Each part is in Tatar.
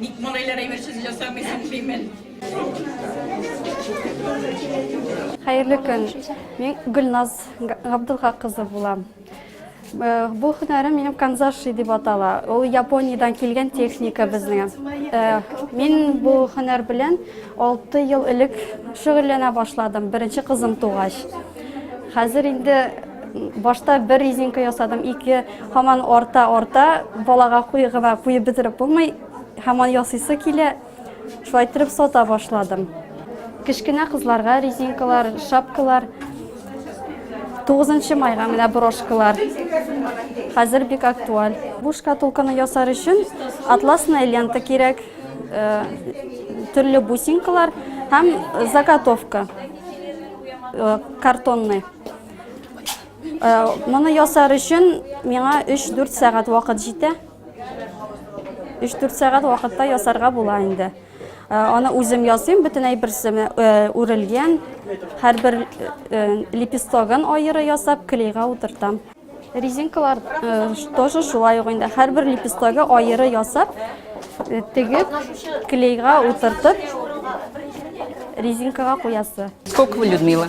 Ник малайлар әйберсез ясамыйсың, Фимел? Хәерле көн. Мин Гөлназ Габдулга кызы булам. Э, бу һөнәрем минем канзаши дип атала. Ул Япониядән килгән техника безнең. Э, мин бу һөнәр белән 6 ел элек шөгыльләнә башладым, беренче кызым тугач. Хәзер инде башта бер резинка ясадым, ике Һаман арта, арта, балага куй гына куеп бетереп булмый, һаман ясыйсы килә. Шулай иттереп сата башладым. Кечкенә кызларга резинкалар, шапкалар, 9 майга менә брошкалар. Хәзер бик актуаль. Бу шкатулканы ясар өчен атласная лента кирәк, э, төрле бусинкалар һәм заготовка э, картонный. Моны ясар өчен миңа 3-4 сәгать вакыт җитә. 3-4 сәгать вакытта ясарга була инде. Аны үзем ясыйм, бөтен әйберсен үрелгән. Һәрбер лепестогын аеры ясап, клейга утыртам. Резинкалар тоже шулай ук инде. Һәрбер лепестогы аеры ясап, тегеп, клейга утыртып, резинкага куясы. Сколько вы, Людмила?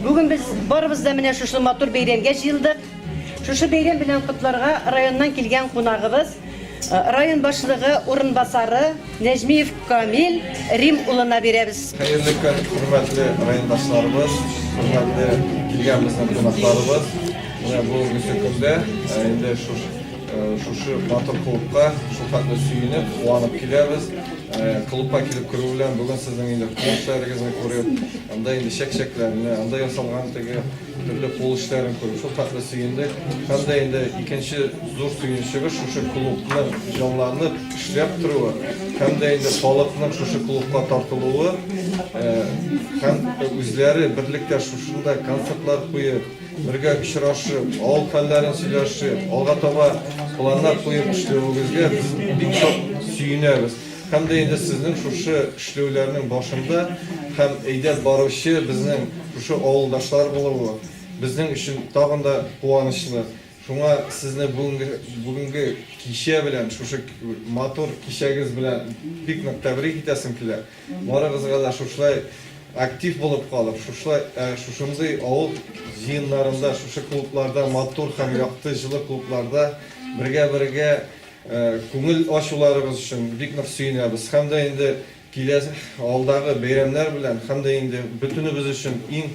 Бүген без барыбыз да менә шушы матур бәйрәмгә җыелдык. Шушы бәйрәм белән котларга районнан килгән кунагыбыз, э, район башлыгы урынбасары Нәҗмиев Камил Рим улына бирәбез. Хәерле көн, хөрмәтле райондашларыбыз, хөрмәтле килгән безнең кунакларыбыз. Менә бүгенге көндә э, инде шушы Шушы матур клубка шул хәтле сөенеп, куанып киләбез. Клубка килеп керү белән бүген сезнең инде кул эшләрегезне күреп, анда инде чәк-чәкләрне, анда ясалган теге төрле кул эшләрен күреп, шул хәтле сөендек. Һәм дә инде икенче зур сөенечебез шушы клубның җанланып эшләп торуы, һәм дә инде халыкның шушы клубка тартылуы, һәм үзләре берлектә шушында концертлар куеп, Бергә очрашып, авыл хәлләрен сөйләшеп, алга таба планнар куеп эшләвегезгә без бик шат сөенәбез. Һәм дә инде сезнең шушы эшләүләрнең башында һәм әйдәп баручы безнең шушы авылдашлар булуы безнең өчен тагын да куанычлы. Шуңа сезне бүгенге бүгенге кичә белән, шушы матур кичәгез белән бик нык тәбрик итәсем килә. Барыгызга да шушлай актив булып калып, шушлай, ә, шушындый авыл җыеннарында, шушы клубларда, матур һәм якты җылы клубларда бергә-бергә, ә, күңел ачуларыгыз өчен бик нык сөенәбез һәм дә инде киләсе, алдагы бәйрәмнәр белән һәм дә инде бөтенебез өчен иң,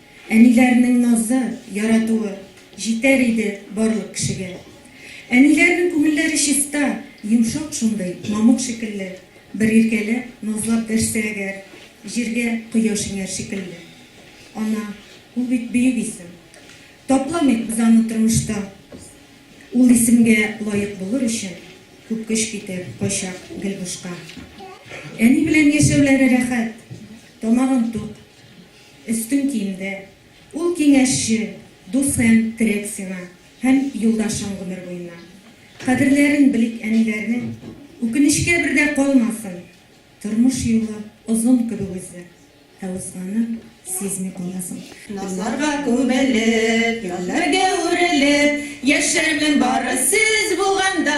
Әниләрнең назы, яратуы Җитәр иде барлык кешегә. Әниләрнең күңелләре чиста, Йомшак шундый, мамык шикелле. Бер иркәләп, назлап дәшсә әгәр, Җиргә кояш иңәр шикелле. Ана, ул бит бөек исем. Тапламыйк без аны тормышта. Ул исемгә лаек булыр өчен, Күп көч китәр, кайчак гел бушка. Әни белән яшәүләре рәхәт, Тамагың тук. Өстен киемдә. Ул киңәшче, дусэм, терек сиңа һәм юлдашың гомер буена. Кадерләрен белик әниләрнең, үкенечкә бер дә калмасын. Тормыш юлы озын кебек үзе, ә узганын сизми каласың. Назларга күмелеп, язларга үрелеп, яшәрмен бары сез булганда.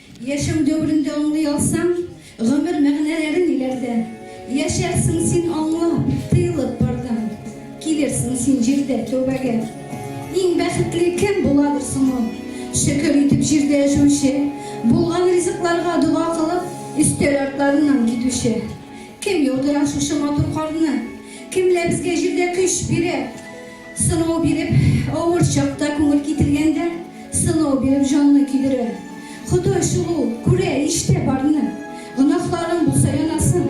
Яшәү дәверен дә аңлый алсаң, гомер мәгънәләре ниләрдә? Яшәрсең син аңлап, тыелып бардан, килерсең син җирдә тәүбәгә. Иң бәхетле кем буладыр соң ул? Шөкер итеп җирдә яшәүче, булган ризыкларга дога кылып, өстәл артларыннан китүче. Кем яудыра шушы матур карны? Кемләр безгә җирдә көч бирә? Сынау биреп, авыр чакта күңел китергәндә, сынау биреп җанны көйдерә. Ходай шул ул, күрә, ишетә барны. Гөнаһларың булса янасын.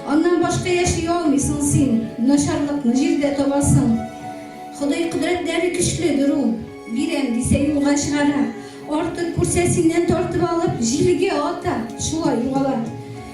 Аннан башка яши алмыйсың син, начарлыкны җирдә табасың. Ходай кодрәтләре көчледер ул, бирәм дисә юлга чыгара, артык күрсә синнән тартып алып, җилгә ата, шулай югала.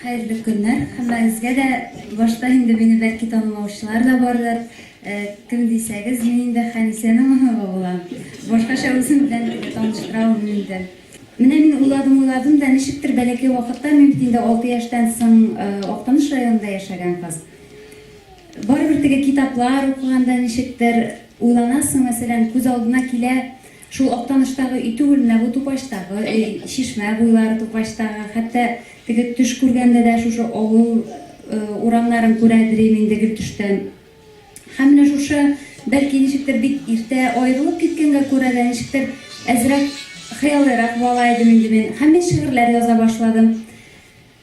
Хәерле көннәр! Һәммәгезгә дә! Башта инде мине бәлки танымаучылар да бардыр. Кем дисәгез, мин инде Хәнисәнең оныгы булам. Башкача үзем белән инде таныштыра алмыйм инде. Менә мин уйладым-уйладым да, ничектер бәләкәй вакытта, мин бит инде алты яшьтән соң Актаныш районында яшәгән кыз. Барыбер теге китаплар укыганда ничектер уйланасың, мәсәлән, күз алдына килә, Шул Актаныштагы өй түгел менә бу Тупачтагы өй, Чишмә буйлары Тупачтагы, хәтта теге төш күргәндә дә шушы авыл урамнарын күрәдерим инде гел төштән. Һәм менә шушы, бәлки ничектер бик иртә аерылып киткәнгә күрә дә, ничектер әзрәк хыялыйрак бала идем инде мин. Һәм мин шигырьләр яза башладым.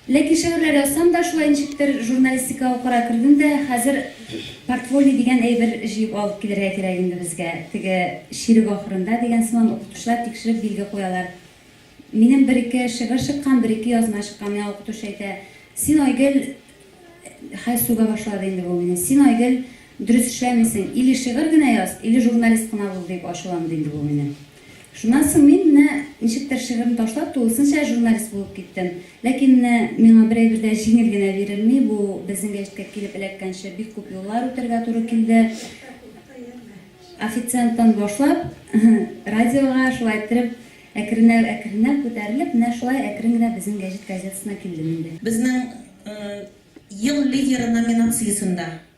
Ләкин шигырьләр язсам да, шулай ничектер журналистика укырга кердем дә, хәзер портфолио дигән әйбер җыеп алып килергә кирәк инде безгә, теге чирек ахырында дигән сыман укытучылар тикшереп билге куялар. Минем бер-ике шигырь чыккан, бер-ике язма чыккан, миңа укытучы әйтә, Син, Айгөл, хәл сүгә башлады инде бу мине, син, Айгөл, дөрес эшләмисең, или шигырь генә яз, или журналист кына бул, дип ачуланды инде бу мине. Шуннан соң мин менә ничектер шигырьне ташлап, тулысынча журналист булып киттем. Ләкин менә миңа бер әйбер дә җиңел генә бирелми, бу безнең гәҗиткә килеп эләккәнче бик күп юллар үтәргә туры килде. Официанттан башлап, радиога, шулай иттереп, әкренләп-әкренләп күтәрелеп, менә шулай әкрен генә безнең гәҗит газетасына килдем инде. Безнең Ел лидеры номинациясендә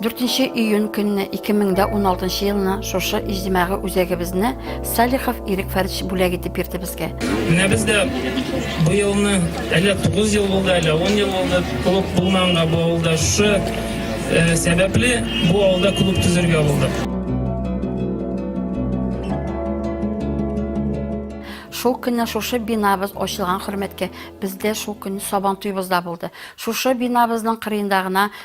4 июнь көнне 2016 елны шушы иҗтимагый үзәгебезне Салихов Ирек Фәрич бүләк итеп бирде безгә. Менә без дә бу елны әле 9 ел булды, әле 10 ел булды клуб булманга бу авылда шушы э, сәбәпле бу авылда клуб төзергә булдык. Шул көнне шушы бинабыз ачылган хөрмәткә бездә шул көнне сабан туйбызда булды. Шушы бинабызның кырыенда гына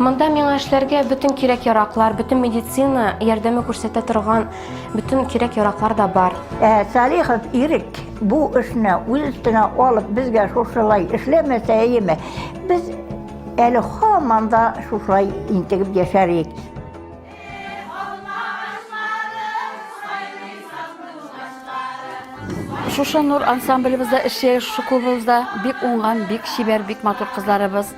Монда миңа эшләргә бөтен кирәк-яраклар, бөтен медицина ярдәме күрсәтә торган бөтен кирәк-яраклар да бар. Ә Салихов Ирек бу эшне үз өстенә алып, безгә шушылай эшләмәсә, әйеме, без әле һаман да шушылай интегеп яшәр идек. Шушы Нур ансамблебызда эшли, шушы клубыбызда бик уңган, бик чибәр, бик матур кызларыбыз.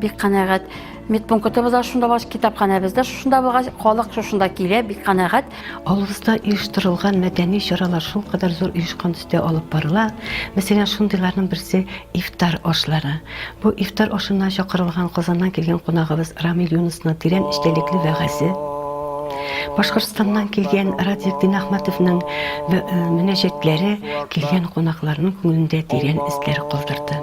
Бик канәгать. Медпунктыбыз да шунда булгач, китапханәбез дә шушында булгач, халык шушында килә, бик канәгать. Авылыбызда оештырылган мәдәни чаралар шул кадәр зур оешкан төстә алып барыла. Мәсәлән, шундыйларның берсе ифтар ашлары. Бу ифтар ашына чакырылган Казаннан килгән кунагыбыз Рамил Юнусның тирән эчтәлекле вәгазе. Башкортстаннан килгән Радик Динахматовның э, мөнәҗәтләре килгән кунакларның күңелендә тирән эзләр калдырды.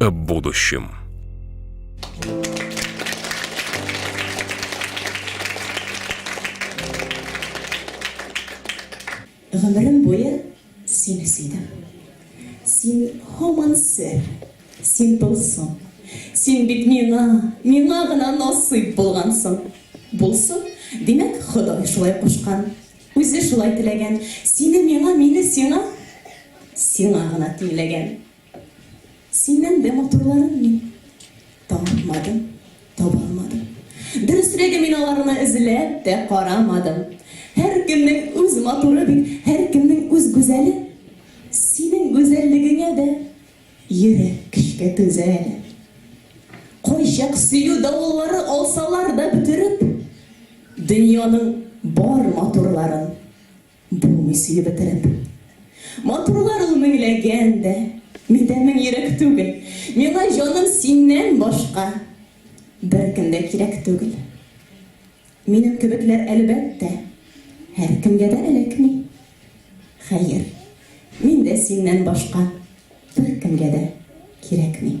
о будущем. Гомерем буе син сөйдем. Син һаман сер, син тылсым. Син бит миңа, миңа гына насыйп булгансың. Булсын, димәк, Ходай шулай кушкан. Үзе шулай теләгән. Сине миңа, мине сиңа, сиңа гына тиңләгән. Синнән дә матурларын мин тапмадым, таба алмадым. Дөресрәге, мин аларны эзләп тә карамадым. Һәркемнең үз матуры бит, һәркемнең үз гүзәле. Синең гүзәллегеңә дә йөрәк көчкә түзә әле. Кайчак сөю давыллары алсалар да бөтереп, дөньяның бар матурларын. Булмый сөю бетереп. Матурлар ул меңләгән дә. Миндә мең йөрәк түгел. Миңа җаным синнән башка беркем дә кирәк түгел. Минем кебекләр, әлбәттә, һәркемгә дә эләкми. Хәер, мин дә синнән башка беркемгә дә кирәкми.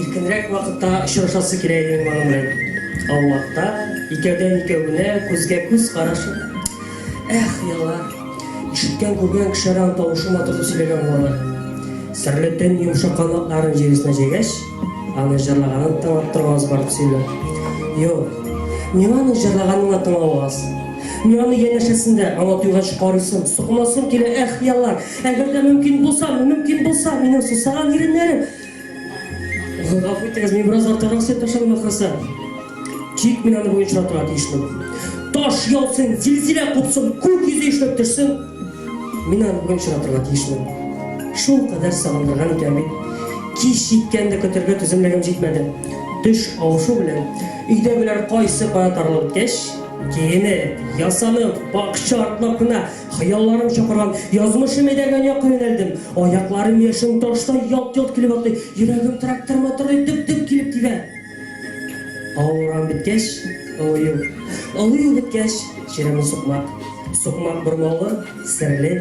Иркенрәк вакытта очрашасы килә иде инде аның белән. Аулакта, икәүдән-икәвенә, күзгә-күз карашып. Эх, еллар! Ишеткән-күргән кешеләр аны тавышы матур дип сөйләгән булалар. Серле төн йомшак канатларын җир өстенә җәйгәч, аны җырлаганын тыңлап торганыгыз бар дип сөйлиләр. Юк, миңа аның җырлаганын да тыңлау аз. Мин аны янәшәсендә, аңа туйгач карыйсым, сукынасым килә, эх, еллар! Әгәр дә мөмкин булса, мөмкин булса, минем сусаган иреннәрем! Гафу итегез, мин бераз артыграк сөйләп ташладым ахрысы. Тик мин аны буенча тора тиешле. Таш яусын, зилзилә купсын, күк йөзе ишләп төшсен. Мин аны буенча тора тиешле. Шул кадәр сагындырган икән бит. Кич җиткән дә көтәргә түземлегем җитмәде. Төш авышу белән өйдә беләр кайсы кая таралып беткәч, киенеп, ясанып, бакча артлап кына Хыялларым чакырган, язмышым әйдәгән якка юнәлдем. Аякларым яшен таштай ялт-йолт килеп атлый, йөрәгем трактор мотордай дөп-дөп килеп тибә. Авырам беткәч, олыю. Олыю беткәч, черемы сукмак. Сукмак бормалы, серле.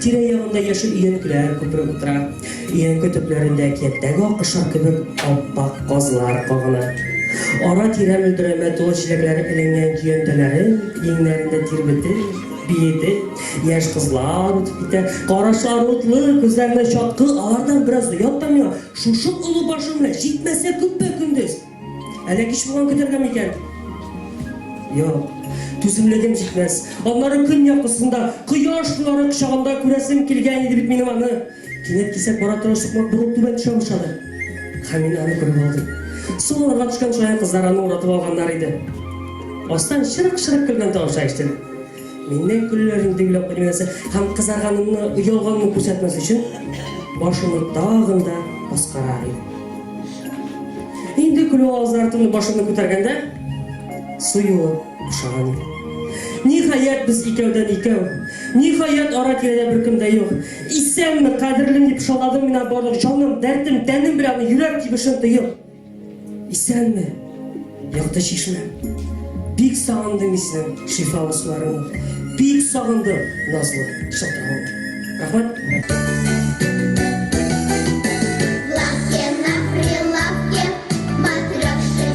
Тирә-ягында яшел өянкеләр күпереп утыра. Өянке төпләрендә әкияттәге аккошар кебек ап-ак казлар кагына. Ара-тирә мөлдерәмә тулы чиләкләр эленгән көянтәләрен иңнәрендә тирбетеп, Биеде, яшь кызлар үтеп китә. Карашлары утлы, күзләренә чаткы, алардан бераз оят та миңа. Шушы олы башым белән җитмәсә күпме көндез? Әллә кич булган көтәргә микән? Юк, түземлегем җитмәс. Аннары көн якысында, кояш нуры кочагында күрәсем килгән иде бит минем аны. Кинәт кисәк бара торган сукмак борын түбән төшә башлады. Һәм мин аны күреп алдым. Сул урга төшкән шаян кызлар аны уратып алганнар иде. Астан шырык-шырык көлгән тавышлар ишетелде. Миннән көлүләрен дигүләп уйласа һәм кызарганымны, оялганымны күрсәтмәс өчен башымны тагын да аскарар идем. Инде көлү авазлары тынып башымны күтәргәндә, су юлы бушаган иде. Ниһаять, без икәүдән икәү. Ниһаять, ара-тирәдә беркем дә юк. Исәнме, кадерлем, дип шаладым мина барлык җаным, дәртем, тәнем белән аны йөрәк тибешен тоеп. Исәнме, якты чишмә. Бик сагындым мин синең шифалы суларыңны. Бик сагындым назлы шылтыравыңны. Рәхмәт.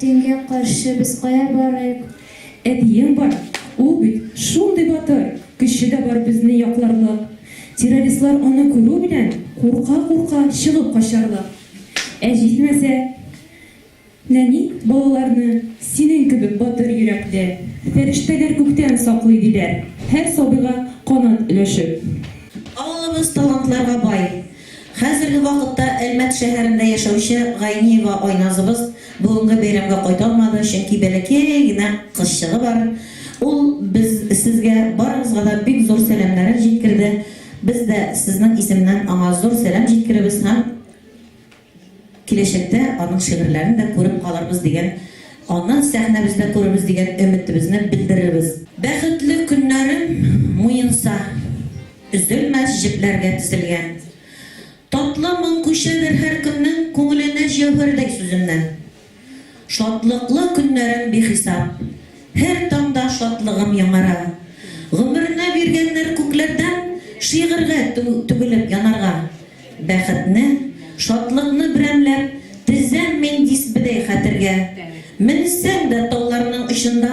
Төнгә каршы без кая барыйк? Әтиең бар, ул бит шундый батыр, көче дә бар безне якларлык. Террористлар аны күрү белән, курка-курка чыгып качарлык. Ә җитмәсә? Нәни, балаларны синең кебек батыр йөрәкле фәрештәләр күктән саклый, диләр, һәр сабыйга канат өләшеп. Авылыбыз талантларга бай. Хәзерге вакытта Әлмәт шәһәрендә яшәүче Гайниева Айназыбыз бүгенге бәйрәмгә кайта алмады, чөнки бәләкәй генә кызчыгы бар. Ул без сезгә барыгызга да бик зур сәламнәрен җиткерде. Без дә сезнең исемнән аңа зур сәлам җиткеребез һәм киләчәктә аның шигырьләрен дә күреп калырбыз дигән, аны сәхнәбездә күрербез дигән өметебезне белдерербез. Бәхетле көннәрен муенса. Өзелмәс җепләргә тезелгән. Татлы моң күчәдер һәркемнең Күңеленә җәүһәрдәй сүземнән. Шатлыклы көннәрем бихисап. Һәр таңда шатлыгым яңара. Гомерне биргәннәр күкләрдән Шигырьгә түгелеп янарга. Бәхетне, шатлыкны берәмләп Тезәм мин дисбедәй хәтергә. Менсәң дә тауларның очында.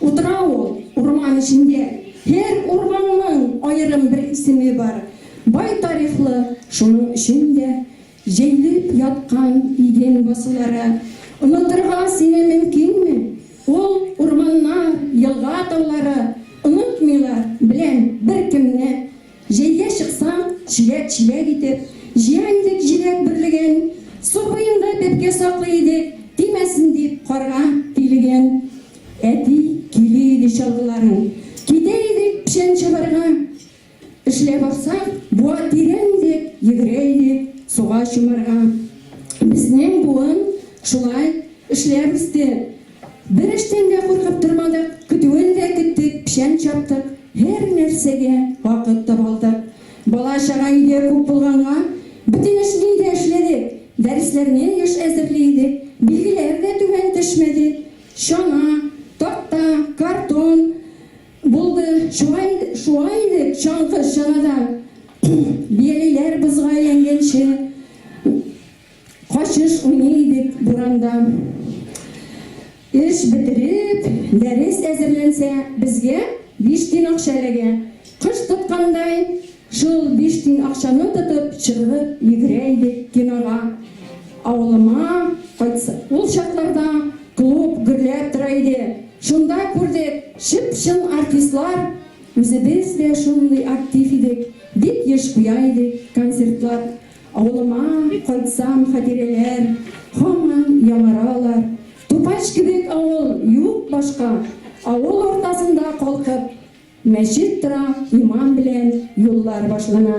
Утыра ул урман эчендә. Һәр урманның аерым бер исеме бар. Бай тарихлы, шуның өчен дә. Җәелеп яткан иген басулары. Онытырга сине мөмкинме? Ул урманнар, елга-таулары. Онытмыйлар, беләм, беркемне. Җәйгә чыксаң, чиләк чиләк итеп, җыя идек җиләк бөрлеген, су буенда бәбкә саклый идек, тимәсен дип, карга тилеген. Әти кили иде чалгыларын, китә идек печән чабарга. Эшләп аксак, буа тирән идек, йөгерә идек суга чумарга. Безнең буын шулай эшләп үсте. Бер эштән дә куркып тормадык, көтүен дә көттек, печән чаптык. Һәр нәрсәгә вакыт таба алдык. Бала-чага өйдә күп булганга, бөтен эшне өйдә эшләдек. Дәресләрне еш әзерли идек. Билгеләр дә түбән төшмәде. Чана, такта, картон булды. Чуа идек, шуа идек чаңгы чанада, бияләйләр бозга әйләнгәнче. Качыш уйный идек буранда. Эш бетереп, дәрес әзерләнсә, безгә биш тин акча эләгә. Кыш тоткандай, шул биш тин акчаны тотып, чыгып йөгерә идек кинога. Авылыма кайтса, ул чакларда клуб гөрләп тора иде. Шунда күрдек, чып-чын артистлар. Үзебез дә шундый актив идек, бик еш куя идек концертлар. Авылыма кайтсам хатирәләр һаман яңаралар Тупач кебек авыл юк башка Авыл уртасында калкып мәчет тора Иман белән юллар башлана.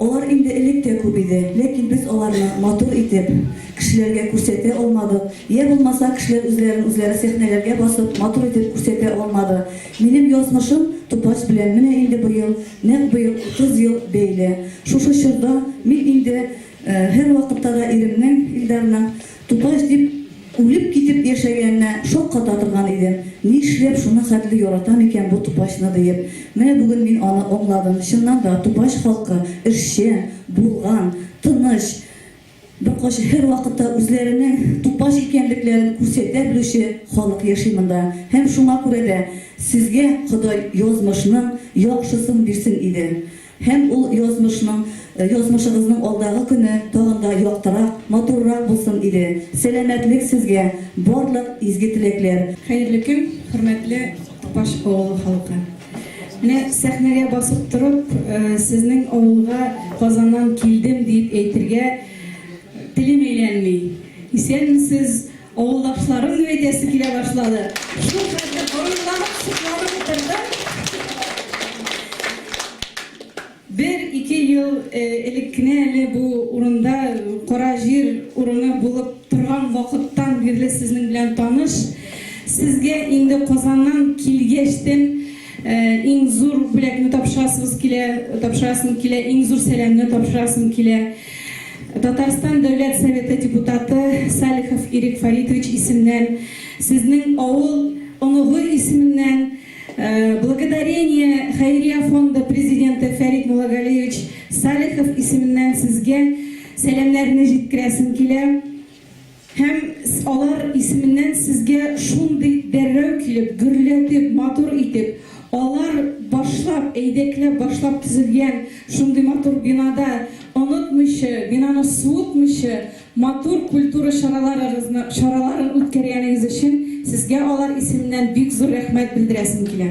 Алар инде элек тә күп иде, ләкин без аларны матур итеп, кешеләргә күрсәтә алмадык, йә булмаса, кешеләр үзләрен үзләре сәхнәләргә басып, матур итеп күрсәтә алмады. Минем язмышым тупач белән менә инде быел, нәкъ быел 30 ел бәйле. Шушы чорда мин инде һәрвакытта да иремнең, Илдарның, Туташ дип үлеп китеп яшәгәненә шакката торган идем. Нишләп шуны хәтле яратам икән бу тупачны диеп. Менә бүген мин аны аңладым. Чыннан да, тупач халкы, эшчән, булган, тыныч, беркайчан, һәрвакытта үзләренең тупач икәнлекләрен күрсәтә белүче халык яши монда. Һәм шуңа күрә дә сезгә Ходай язмышның яхшысын бирсен иде. Һәм ул язмышның, язмышыгызның алдагы көне тагын да яктырак, матуррак булсын иде! Сәламәтлек сезгә, барлык изге теләкләр! Хәерле көн, хөрмәтле Тупаш авылы халкы! Менә сәхнәгә басып торып, сезнең авылга Казаннан килдем диеп әйтергә телем әйләнми. Исәнмесез! Авылдашларым дип әйтәсе килә башлады. Шул хәтле кайгыланып, сокланып утырдым. Бер-ике ел элек кенә әле бу урында кара җир урыны булып торган вакыттан бирле сезнең белән таныш. Сезгә инде Казаннан килгәчтен иң зур бүләкне тапшырасыбыз килә, тапшырасым килә, иң зур сәламне тапшырасым килә. Татарстан Дәүләт Советы депутаты Салихов Ирек Фаритович исемнән сезнең авыл оныгы исеменнән Благодарение хәйрия фонды президенты Фәрит Муллагалиевич Салихов исеменнән сезгә сәламнәрне җиткерәсем килә. Һәм алар исеменнән сезгә шундый дәррәү килеп, гөрләтеп, матур итеп, алар башлап, әйдәкләп башлап төзелгән шундый матур бинада, онытмыйча, бинаны суытмыйча, матур культура чараларыгызны, чараларын үткәргәнегез өчен сезгә алар исеменнән бик зур рәхмәт белдерәсем килә.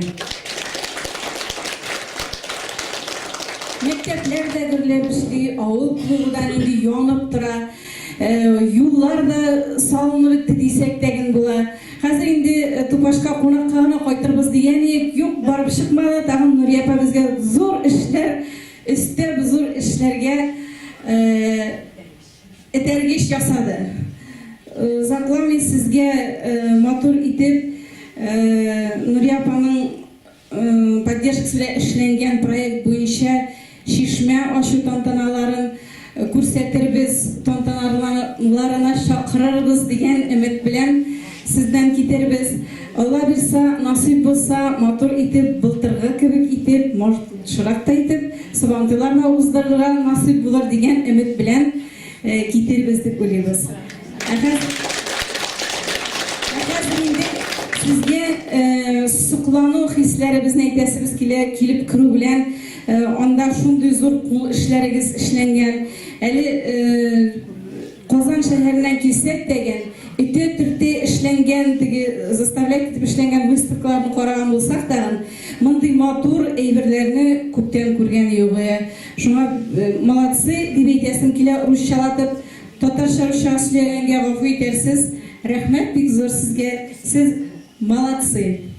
Мәктәпләр дә гөрләп эшли, авыл клубы да нинди янып тора. Юллар да салынып бетте дисәк тә ген була. Хәзер инде Тупашка кунакка гына кайтырбыз дигән идек, юк, барып чыкмады. Тагын Нурия апа безгә зур эшләр өстәп, зур эшләргә этәргеч ясады. Озакламый сезгә матур итеп Нурия апаның поддержкасында эшләнгән проект буенча чишмә ачу тантаналарын күрсәтербез, тантаналарына чакырырбыз дигән өмет белән сездән китәрбез. Алла бирса, насыйп булса, матур итеп, былтыргы кебек итеп, может, шырак та итеп, Сабантуйлар да уздырырга насыйп булыр дигән өмет белән Китирбез дип уйлыйбыз. Ә хәзер сезгә соклану хисләребезне әйтәсебез килә, килеп керү белән анда шундый зур кул эшләрегез эшләнгән. Әле Казан шәһәреннән килсәк дәгән, эте төрте эшләнгән, теге заставлять итеп эшләнгән выставкаларны караган булсак тагын, мондый матур әйберләрне күптән күргән юк. Шуңа молодцы дип әйтәсем килә урысчалатып, татарча-русча сөйләгәнгә гафу итәрсез, рәхмәт бик зур сезгә, сез молодцы.